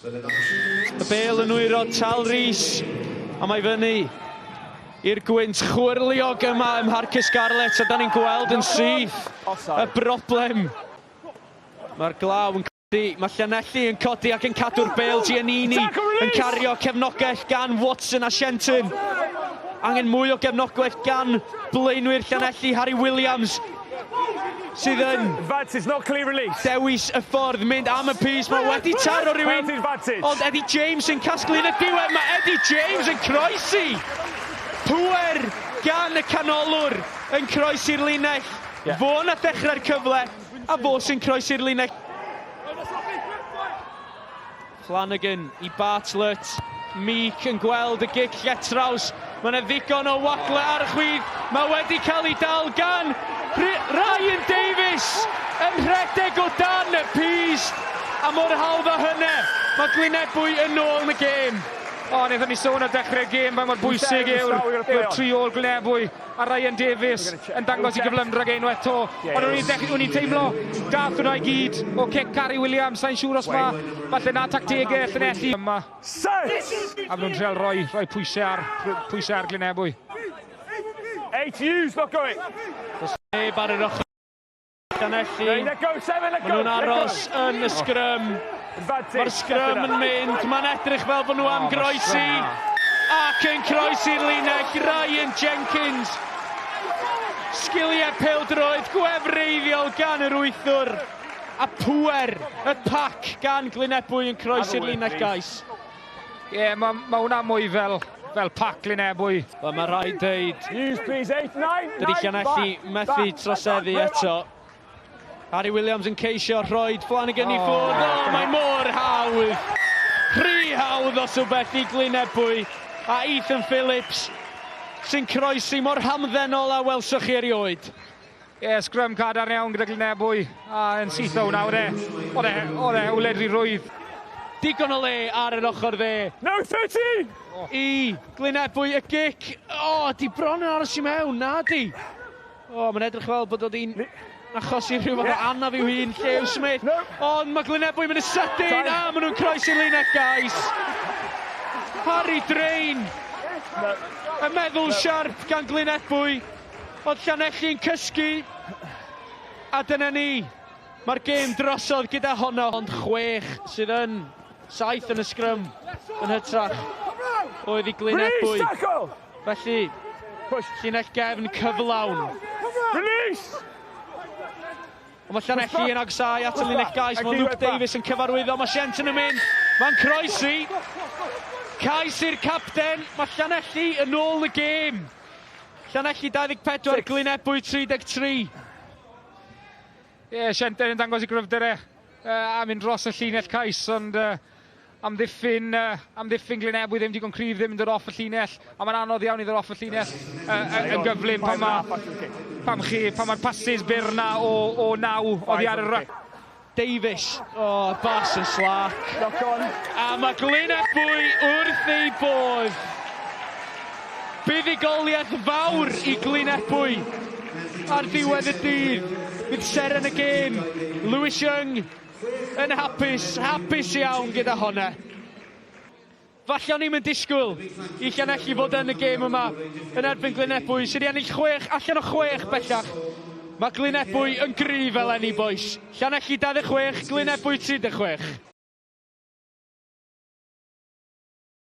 Y bel yn wyro Tal Rhys a mae fyny i'r gwynt chwyrliog yma ym Mharc y Scarlets a da ni'n gweld yn syth y broblem. Mae'r glaw yn codi, mae Llanelli yn codi ac yn cadw'r bel Giannini yn cario cefnogaeth gan Watson a Shenton. Angen mwy o gefnogaeth gan blaenwyr Llanelli, Harry Williams sydd yn... Vance, it's not clear release. Dewis y ffordd mynd am y pys, mae wedi taro rhywun. Ond Eddie James yn casglu yn y diwedd, mae Eddie James yn croesi. Pwer gan y canolwr yn croesi'r linell. Yeah. Fo na ddechrau'r cyfle, a fo sy'n croesi'r linell. Flanagan i Bartlett, Meek yn gweld y gic lletraws, mae yna ddigon o wagle ar y chwith, mae wedi cael ei dal gan Ryan Davies yn rhedeg o dan y pys, a mor hawdd â hynna, mae Glynebwy yn ôl yn y gêm. O, wnaethon ni sôn ar dechrau'r gêm faint mor bwysig yw'r tri ôl Glynebwy. A Ryan Davies yn dangos i gyflymdra gen unwaith to. Ond o'n i'n dechrau, o'n i'n teimlo, dath hwnna i gyd o cic Cari Williams, sa'n siŵr os ma, falle na tactegau Llanelli yma. A maen nhw'n trial rhoi, rhoi pwysau ar, pwysau ar Glynebwy. Eight Hughes, look going! Does neb ar yr ochr. Llanelli. Maen nhw'n aros yn y sgrym. Mae'r sgrym yn mynd. Mae'n edrych fel bod nhw am groesi. Ac yn croesi'r linell, Ryan Jenkins. Sgiliau peldroed gwefreiddiol gan yr wythwr. A pwer y pac gan Glynebwy yn croesi'r linell gais. Ie, yeah, mae ma hwnna mwy fel, fel pac Lynebwy. Wel, mae rhaid dweud... News, please, 8, 9, 9, Llanelli methu troseddu eto. Harry Williams yn ceisio rhoi Flanagan oh. i ffwrdd. Oh, mae mor hawdd. Rhy hawdd os o beth i Glynebwy. A Ethan Phillips sy'n croesi mor hamddenol a welsoch chi erioed. Ie, yeah, sgrym cadarn iawn gyda Glynebwy, a yn syth o nawr e. Oedd e, oedd e, wledri rwydd. Digon o le ar yr ochr dde. No 13! Oh. I Glynebwy y gic. O, oh, di bron yn aros i mewn, na di. O, oh, mae'n edrych fel bod oedd hi'n achosi rhyw fath o anaf i'w hun, Llew Smith. No. Ond mae Glynebwy mynd y sydyn, a maen nhw'n croes i'r linell, guys. Harry Drain. No. Y meddwl no. siarp gan Glynebwy. Oedd Llanelli'n cysgu, a dyna ni, mae'r gêm drosodd gyda honno. Ond chwech sydd yn, saith yn y sgrym yn hytrach o iddi Glynedd bwy. Felly, llinell gefn cyflawn. Release! Ond mae Llanelli yn agsau at y linell gais. Mae Luke Davies yn cyfarwyddo. Mae Shenton yn mynd. Mae'n croesi. Cais i'r capten. Mae Llanelli yn ôl y gêm. Llanelli 24, Glyn Ebwy 33. Ie, Sienter yn dangos i gryfder e uh, am un dros y llinell cais, ond uh, amddiffyn, uh, amddiffyn Glyn Ebwy ddim digon cryf, ddim yn dod off y llinell, a mae'n anodd iawn i ddod off y llinell uh, yn gyflym pan mae pam chi, pan mae'r passes byr na o, o naw oddi ar y rac. Davies, o, bas yn slac. Knock on. A mae Glyn Ebwy wrth ei bodd. Buddugoliaeth fawr i Glyn Ebwy. Ar ddiwedd y dydd, bydd seren y gêm, Lewis Young, yn hapus, hapus iawn gyda honna. Falle o'n i'm yn disgwyl i Llanelli fod yn y gêm yma yn erbyn Glynebwy sydd 'di ennill chwech allan o chwech bellach. Mae Glynebwy yn gryf eleni bois. Llanelli 26, Glynebwy 36.